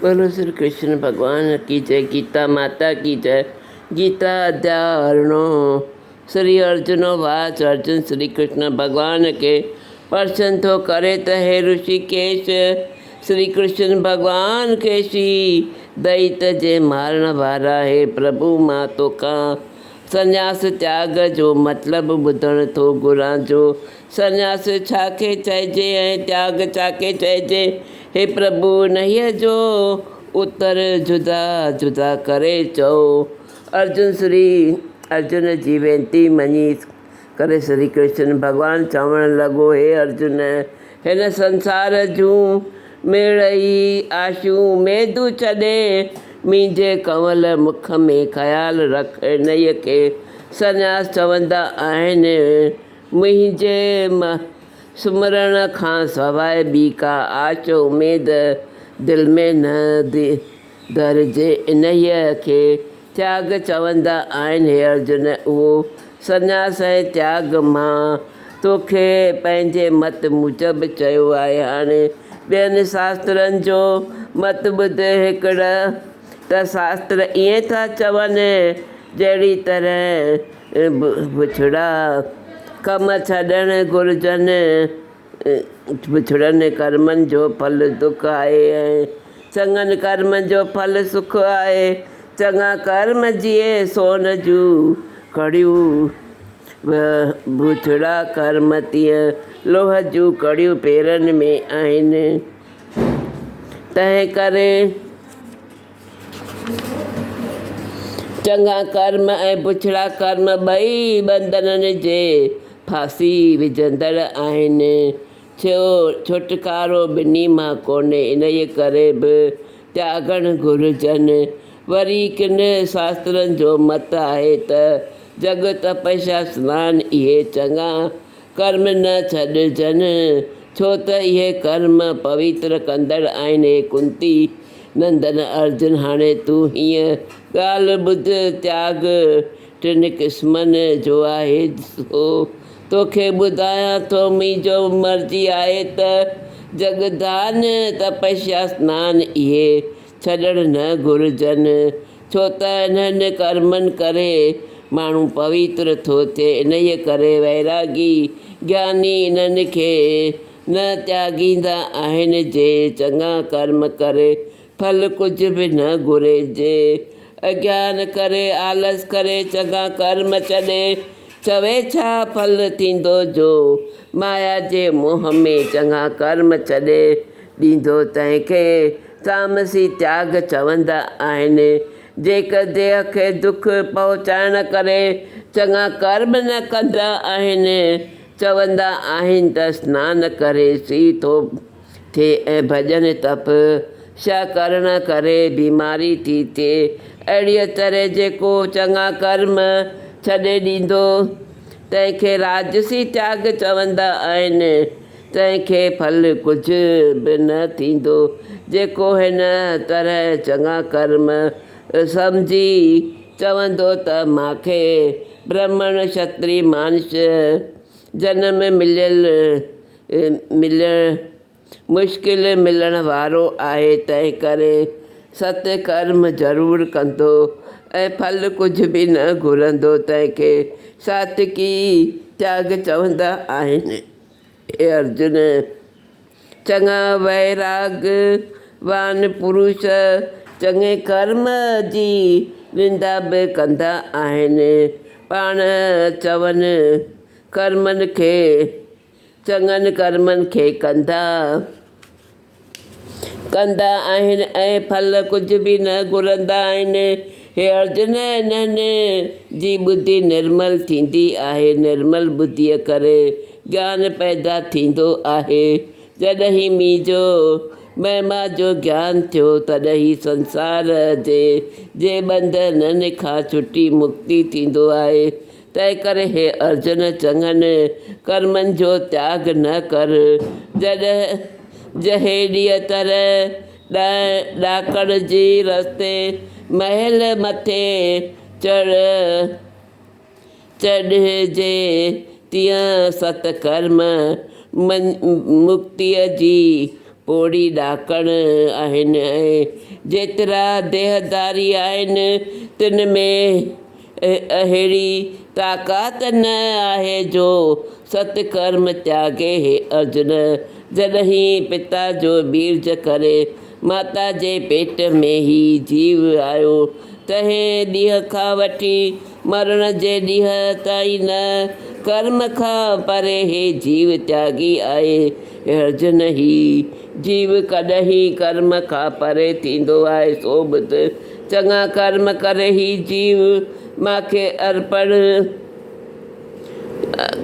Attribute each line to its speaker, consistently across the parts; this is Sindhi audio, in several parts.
Speaker 1: بولو شري ڪرشن ڀڳوان ڪي جئه گيتا ماتا ڪي جئه گيتا اديا ورڻو شري ارجنو واچ ارجن شري ڪرشن ڀڳوان کي پرشن ٿو ڪري ته هي رشي ڪيش شري ڪرشن ڀڳوان کي شي دئيت جي مارڻ وارا هي پرڀو مان توکان سنياس تياڳ جو مطلب ٻڌڻ ٿو گهران جو سنياس ڇا کي چئجي ۽ تياڳ ڇا کي چئجي؟ هي پرڀو انهيء جو اتر جدا جدا ڪري چئو. ارجن سري ارجن جي وينتي مڃي ڪري سري ڪرشن ڀڳوان چوڻ لڳو هي ارجن! هن سنسار جون ميڙئي آشيون ميدون ڇڏي مينجهي ڪنول مک ۾ خيال رک انهيء کي سنياس چوندا آهن. منهنجي سمرڻ کان سواء ٻي ڪا آڇ اميد دل ۾ نه ٿي ڌرجي. انهيء کي تياڳ چوندا آهن. هي ارجن! اهو سنياس ۽ تياڳ مان توکي پنهنجي مت موجب چيو آهي. هاڻي ٻين شاسترن جو مت ٻڌ. هڪڙ ته شاستر ائين ٿا چون جهڙي طرح بڇڙا ڪم ڇڏڻ گهرجن، بڇڙن ڪرمن جو ڦل دک آهي ۽ چڱن ڪرمن جو ڦل سک آهي، چڱا ڪرم جيئي سون جون ڪڙيون، بڇڙا ڪرم تيئن لوهه جون ڪڙيون پيرن ۾ آهن، تنهنڪري. چڱا ڪرم ۽ بڇڙا ڪرم ٻئي ٻنڌنن جي ڦاسي وجهندڙ آهن. ڇوٽڪارو ٻنهي مان ڪونهي، انهيء ڪري به تياڳڻ گهرجن. وري ڪن شاسترن جو مت آهي ته جڳ تپسيا سنان اهي چڱا ڪرم نه ڇڏجن، ڇو ته اهي ڪرم پويتر ڪندڙ آهن. هي ڪنتي نندن ارجن، هاڻي تون هيء ڳالهه ٻڌ، تياڳ ٽن قسمن جو آهي، سو توکي ٻڌايان ٿو. منهنجو مرضي آهي ته جڳدان تپسيا سنان اهي ڇڏڻ نه گهرجن، ڇو ته انهن ڪرمن ڪري ماڻهو پويتر ٿو ٿئي، انهيء ڪري ويراڳي، گياني، انهن کي نه تياڳيندا آهن، جي چڱا ڪرم ڪري ڦل ڪجهه به نه گهري، جي اگيان ڪري، آلس ڪري، چڱا ڪرم ڇڏي، چوي ڇا ڦل ٿيندو جو مايا جي موهه ۾ چڱا ڪرم ڇڏي ڏيندو تنهن کي تامسي تياڳ چوندا آهن جيڪ ديهه کي دک پهچائڻ ڪري چڱا ڪرم نه ڪندا آهن چوندا آهن ته سنان ڪري سي ٿو ٿئي ۽ ڀڄن تپ سيا ڪرڻ ڪري بيماري ٿي ٿئي اهڙيء طرح جيڪو چڱا ڪرم ڇڏي ڏيندو تنهن کي راجسي تياڳ چوندا آهن تنهن کي ڦل ڪجهه به نه ٿيندو جيڪو هن طرح چڱا ڪرم سمجهي چوندو ته مان کي برهمڻ ڇتري مانش جنم مليل ملڻ مشڪل ملڻ وارو آهي، تنهنڪري ست ڪرم ضرور ڪندو ۽ ڦل ڪجهه به نه گهرندو، تنهن کي ساتڪي تياڳ چوندا آهن. اي ارجن! چڱا ويراڳ وان پروش چڱي ڪرم جي نندا به ڪندا آهن، پاڻ چون ڪرمن کي. چڱن ڪرمن کي ڪندا ڪندا آهن ۽ ڦل ڪجهه به نه گهرندا آهن. هي ارجن انهن جي ٻڌي نرمل ٿيندي آهي، نرمل ٻڌيء ڪري گيان پيدا ٿيندو آهي. جڏهين مينهن جو مهما جو گيان ٿيو، تڏهن هي سنسار جي جي ٻنڌنن کان ڇٽي مڪتي ٿيندو آهي. تنهنڪري هي ارجن چڱن ڪرمن جو تياڳ نه ڪر، جڏهن جهيڙيء طرح ڏانهن ڏاڪڻ جي رستي مهل مٿي چڙهه چڙهجي، تيئن ست ڪرم مڪتيء جي پوڙهي ڏاڪڻ آهن ۽ جيترا ديهداري آهن، تن ۾ اهڙي طاقت نه آهي جو ست ڪرم تياڳي هي ارجن جڏهين پتا جو بيرج ڪري ماتا جي پيٽ ۾ هي جيو آيو تنهن ڏينهن کان وٺي مرڻ جي ڏينهن تائين نه ڪرم کان پري هي جيو تياڳي آهي ارجن هي جيو ڪڏهين ڪرم کان پري ٿيندو آهي سو ٻڌ چڱا ڪرم ڪر هي جيو مان کي ارپڻ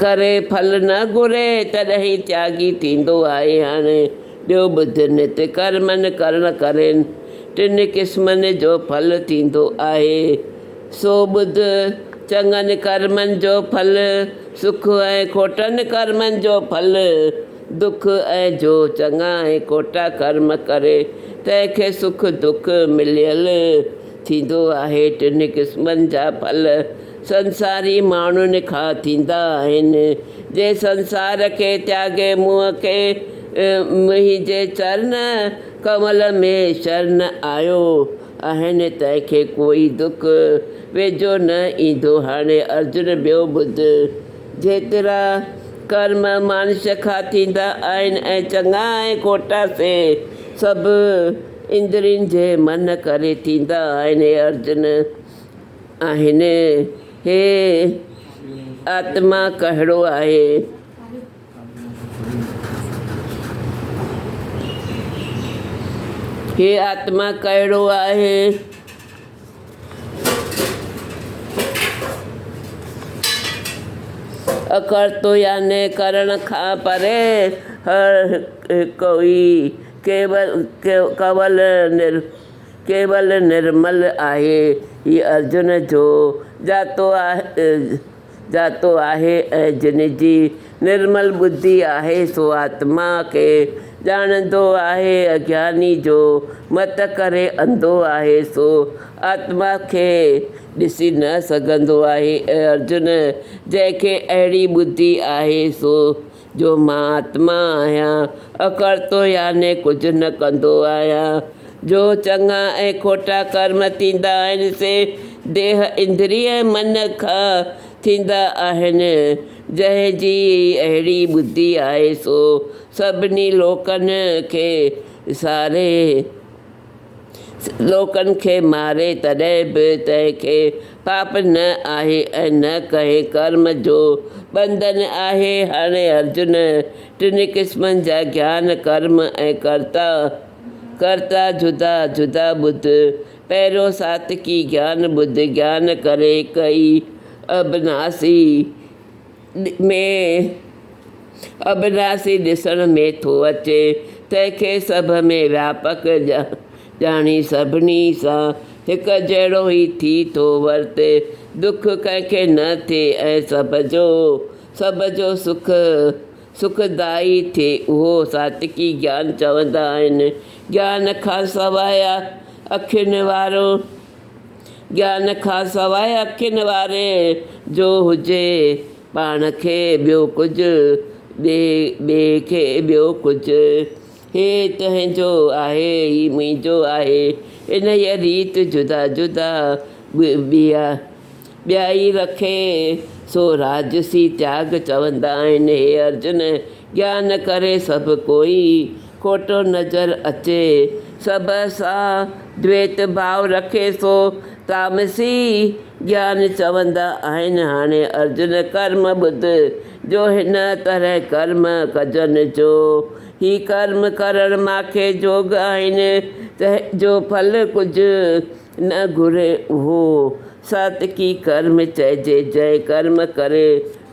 Speaker 1: ڪري ڦل نه گهري تڏهين تياگي ٿيندو آهي هاڻي ٻيو ٻڌ نت ڪرمن ڪرڻ ڪرين ٽن قسمن جو ڦل ٿيندو آهي سو ٻڌ چڱن ڪرمن جو ڦل سک ۽ کوٽن ڪرمن جو ڦل دک ۽ جو چڱا ۽ کوٽا ڪرم ڪري، تنهن کي سک دک مليل ٿيندو آهي. ٽنهي قسمن جا ڦل سنساري ماڻهن کان ٿيندا آهن. جنهن سنسار کي تياڳي مون کي منهنجي چرن ڪنول ۾ شرن آيو آهن، تنهن کي ڪوئي دک ويجهو نه ايندو. هاڻي ارجن ٻيو ٻڌ. جيترا ڪرم مانش کان ٿيندا آهن ۽ چڱا ۽ کوٽا سي سڀ اندرين جي من ڪري ٿيندا آهن. هي ارجن آهن. هي آتما ڪهڙو آهي؟ هي آتما ڪهڙو آهي؟ اکرت يعني ڪرڻ کان پري هر هڪ ئي ڪيول نرمل آهي. هي ارجن جو ڄاتو آهي. جاتو آهي ۽ جن جي نرمل ٻڌي آهي سو آتما کي ڄاڻندو آهي. اجناني جو مت ڪري انڌو آهي سو آتما کي ڏسي نه سگهندو آهي. اي ارجن! جنهن کي اهڙي ٻڌي آهي سو جو مان آتما آهيان، اکڙتو يعني ڪجهه نه ڪندو آهيان، جو چڱا ۽ کوٽا ڪرم ٿيندا آهن سي ديهه، اندري ۽ من کان ٿيندا آهن، جنهن جي اهڙي ٻڌي آهي سو سڀني لوڪن کي ساري. لوڪن کي ماري تڏهن به تنهن کي پاپ نه آهي ۽ نه ڪنهن ڪرم جو ٻنڌن آهي. هاڻي ارجن ٽنهي قسمن جا گيان، ڪرم ۽ ڪرتا، ڪرتا جدا جدا ٻڌ. پهريون ساتڪي گيان ٻڌ، گيان ڪري هڪ ئي اڀناسي. ۾ اڀراسي ڏسڻ ۾ ٿو اچي، تنهن کي سڀ ۾ وياپڪ ڄاڻي سڀني سان هڪجهڙو ئي ٿي ٿو ورتي، دک ڪنهن کي نه ٿئي ۽ سڀ جو سڀ جو سک سکدائي ٿئي، اهو ساچڪي گيان چوندا آهن، گيان کان سواء اکين وارو. گيان کان سواء اکين واري جو هجي پاڻ کي ٻيو ڪجهه ڏي ٻئي کي ٻيو ڪجهه هي تنهنجو آهي هي منهنجو آهي انهيء ريت جدا جدا ٻيا ٻيا ئي رکي سو راجسي تياڳ چوندا آهن هي ارجن گيان ڪري سڀڪوئي کوٽو نظر اچي. سڀ سان ڀيت ڀاء رکي ٿو. تامسي جيان چوندا آهن هاڻي ارجن ڪرم ٻڌ جو هن طرح ڪرم ڪجن جو هي ڪرم ڪرڻ ماکي جوڳ آهن تنهن جو ڦل ڪجهه نه گهري اهو ساتڪي ڪرم چئجي جنهن ڪرم ڪري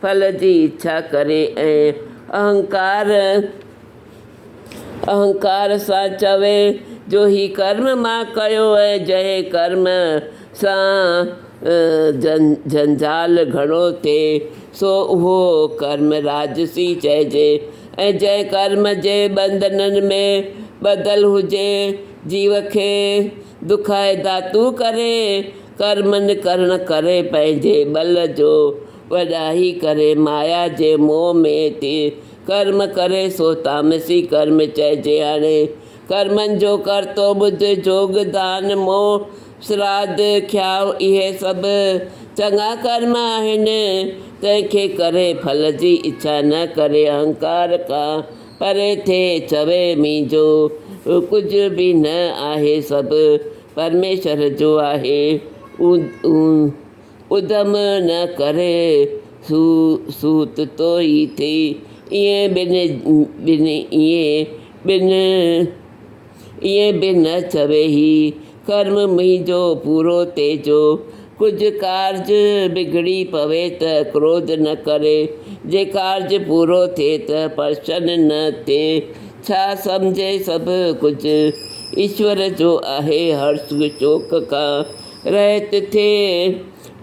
Speaker 1: ڦل جي اڇا ڪري ۽ اهنڪار اهنڪار سان چوي جو هي ڪرم مان ڪيو ۽ جنهن ڪرم سان جنجال گهڻو ٿئي سو اهو ڪرم راجسي چئجي ۽ جنهن ڪرم جي ٻنڌنن ۾ ٻڌل هجي جيو کي دکائي ڌاتو ڪري ڪرمن ڪرڻ ڪري پنهنجي ٻل جو وڏائي ڪري مايا جي موهه ۾ ٿي ڪرم ڪري سو تامسي ڪرم چئجي هڻي. ڪرمن جو ڪرتو ٻڌ جوڳ دان مون سراڌ کياء اهي سڀ چڱا ڪرم آهن. تنهن کي ڪري ڦل جي اڇا نه ڪري اهنڪار کان پري ٿئي چوي منهنجو ڪجهه به نه آهي سڀ پرميشور جو آهي. ادم نه ڪري سو سوت توئي ٿئي. ائين به ائين به نه چوي هي ڪرم منهنجو پورو تيجو. ڪجهه ڪارج بگڙي پوي ته ڪروڌ نه ڪري. جي ڪارج پورو ٿئي ته پرشن نه ٿئي. ڇا سمجهي سڀ ڪجهه ايشور جو آهي هرش شوڪ کان. رهت ٿئي،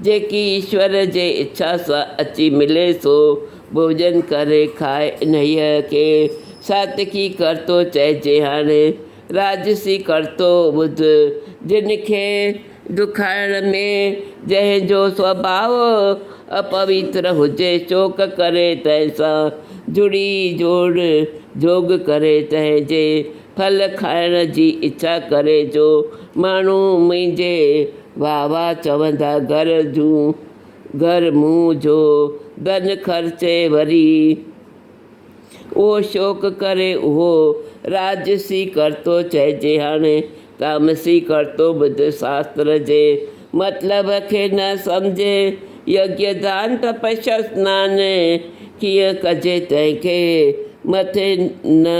Speaker 1: جيڪي ايشور جي اڇا سان اچي ملي سو ڀوڄن ڪري کائي، انهيء کي ساتڪي ڪرتو چئجي. هاڻي راجسي ڪرتو ٻڌ، جن کي دکائڻ ۾، جنهن جو سوڀاء اپويتر هجي، شوق ڪري تنهن سان جڙي جوڙ جوڳ ڪري، تنهن جي ڦل کائڻ جي اڇا ڪري جو، ماڻهو منهنجي واهه واهه چوندا گهر جون گهر مون جو ڌن خرچي وري اهو شوق ڪري اهو راجسي ڪرتو چئجي هاڻي تامسي ڪرتو ٻڌ شاستر جي مطلب کي نه سمجهي يگيه دان تپسيا سنان ڪيئن ڪجي تنهن کي مٿي نه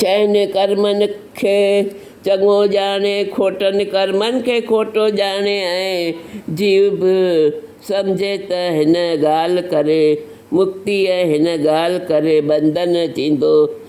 Speaker 1: چئن ڪرمن کي چڱو ڄاڻي، کوٽن ڪرمن کي کوٽو ڄاڻي ۽ جيو به سمجهي ته هن ڳالهه ڪري مڪتي ۽ هن ڳالهه ڪري بندن ٿيندو.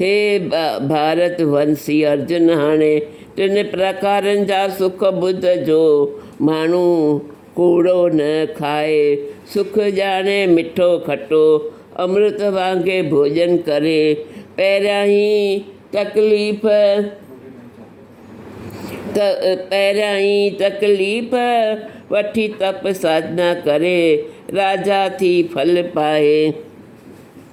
Speaker 1: هي ڀارت ونسي ارجن هاڻي ٽن پرڪارن جا سک ٻڌ جو ماڻهو ڪوڙو نه کائي سک ڄاڻي مٺو کٽو امرت وانگي ڀوڄن ڪري پهريائين تڪليف پهريائين تڪليف وٺي تپ ساڌنا ڪري راجا ٿي ڦل پائي.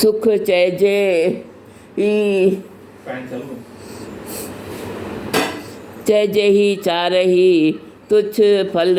Speaker 1: سک چئجي هي چارهي تجھ ڦل.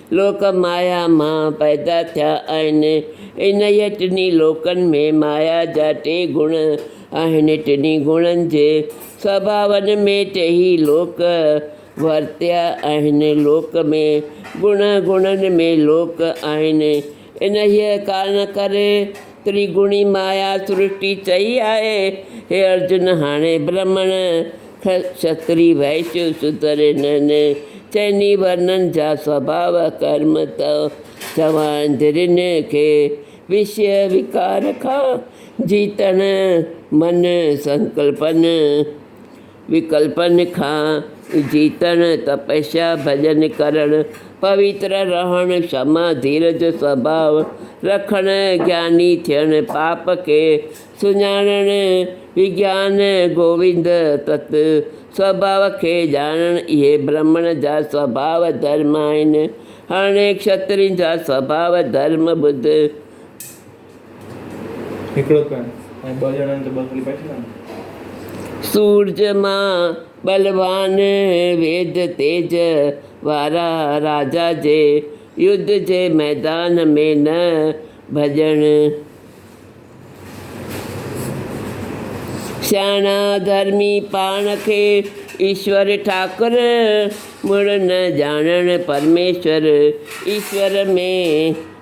Speaker 1: لوڪ مايا مان پيدا ٿيا آهن. انهيء ٽنهي لوڪن ۾ مايا جا ٽي گڻ آهن. ٽنهي گڻن جي سڀاون ۾ ٽيئي لوڪ ورتيا آهن. لوڪ ۾ گڻ، گڻن ۾ لوڪ آهن. انهيء ڪارڻ ڪري تريگڻي مايا سرشٽي چئي آهي، هي ارجن هاڻي برهمڻ کي کشتري وئيشيو شودر انهن چئني ورنن جا سڀاء ڪرم ته چوائين ڌرين کي وشيه وڪار کان جيتڻ من سنڪلپن وڪلپن کان جيتڻ، تپسيا ڀڄن ڪرڻ، پوتر رهڻ، شما ڌير جو سڀاء رکڻ، گياني ٿيڻ، پاپ کي سڃاڻڻ، وگيان گووند تت سڀاء کي ڄاڻڻ اهي برهمڻ جا سڀاء ڌرم آهن. هاڻي کشترين جا سڀاء ڌرم ٻڌ. سورج مان ٻلوان ويد تيج وارا راجا جي يڌ جي ميدان ۾ نه ڀڄڻ سياڻا ڌرمي پاڻ کي ايشور ٺاڪر مڙ نه ڄاڻڻ پرميشور ايشور ۾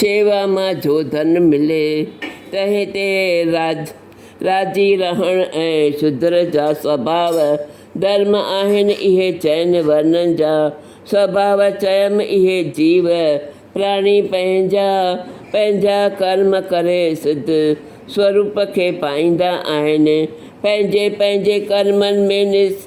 Speaker 1: شيوا مان جو ڌن ملي، تنهن تي راضي رهڻ ۽ شودر جا سڀاء ڌرم آهن، اهي چئن ورنن جا سڀاء چيم، اهي جيو پراڻي پنهنجا پنهنجا ڪرم ڪري سڌ سوروپ کي پائيندا آهن، پنهنجي پنهنجي ڪرمن ۾ نس.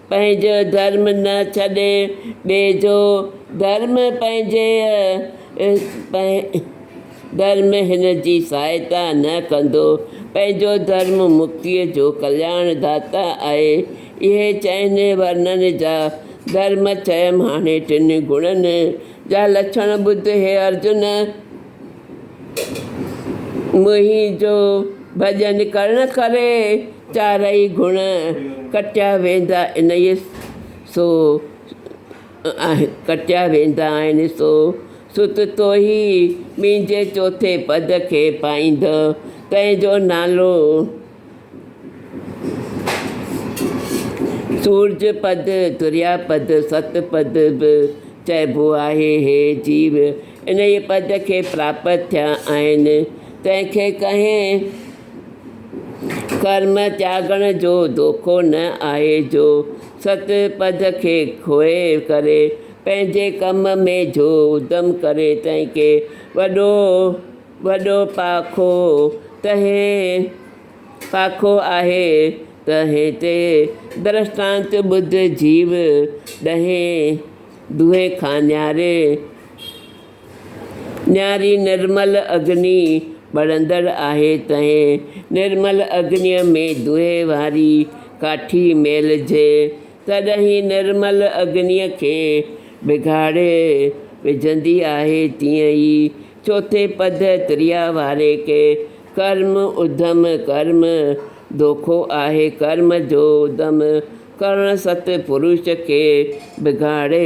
Speaker 1: پنهنجو ڌرم نه ڇڏي ٻئي جو ڌرم پنهنجيء ڌرم هن جي سهائتا نه ڪندو پنهنجو ڌرم مڪتيء جو ڪلياڻ ڌاتا آهي اهي چئن ورنن جا ڌرم چيم هاڻي ٽن گڻن جا لڇڻ ٻڌ هي ارجن منهنجو ڀڄن ڪرڻ ڪري چارئي گڻ ڪٽيا ويندا انهيء سو ڪٽيا ويندا آهن سو ست توهي مينجي چوٿين پد کي پائيندء تنهن جو نالو سورج پد دريا پد ست پد به چئبو آهي هي جيو انهيء پد کي پراپت ٿيا آهن تنهن کي ڪنهن ڪرم تياڳڻ جو دوکو نه آهي جو، ست پد کي کوهي ڪري، پنهنجي ڪم ۾ جو ادم ڪري، تنهن کي وڏو وڏو پاکو تنهي پاکو آهي، تنهي تي درشٽانت ٻڌ جيو ڏهين، دونهين کان نياري. نياري نرمل اگني ٻرندڙ آهي تنهن نرمل اگنيء ۾ دوهي واري ڪاٺي ميلهجي، تڏهين نرمل اگنيء کي بگاڙي وجهندي آهي، تيئن ئي چوٿين پد تريا واري کي ڪرم اڌم ڪرم دوکو آهي، ڪرم جو اڌم ڪرڻ ست پروش کي بگاڙي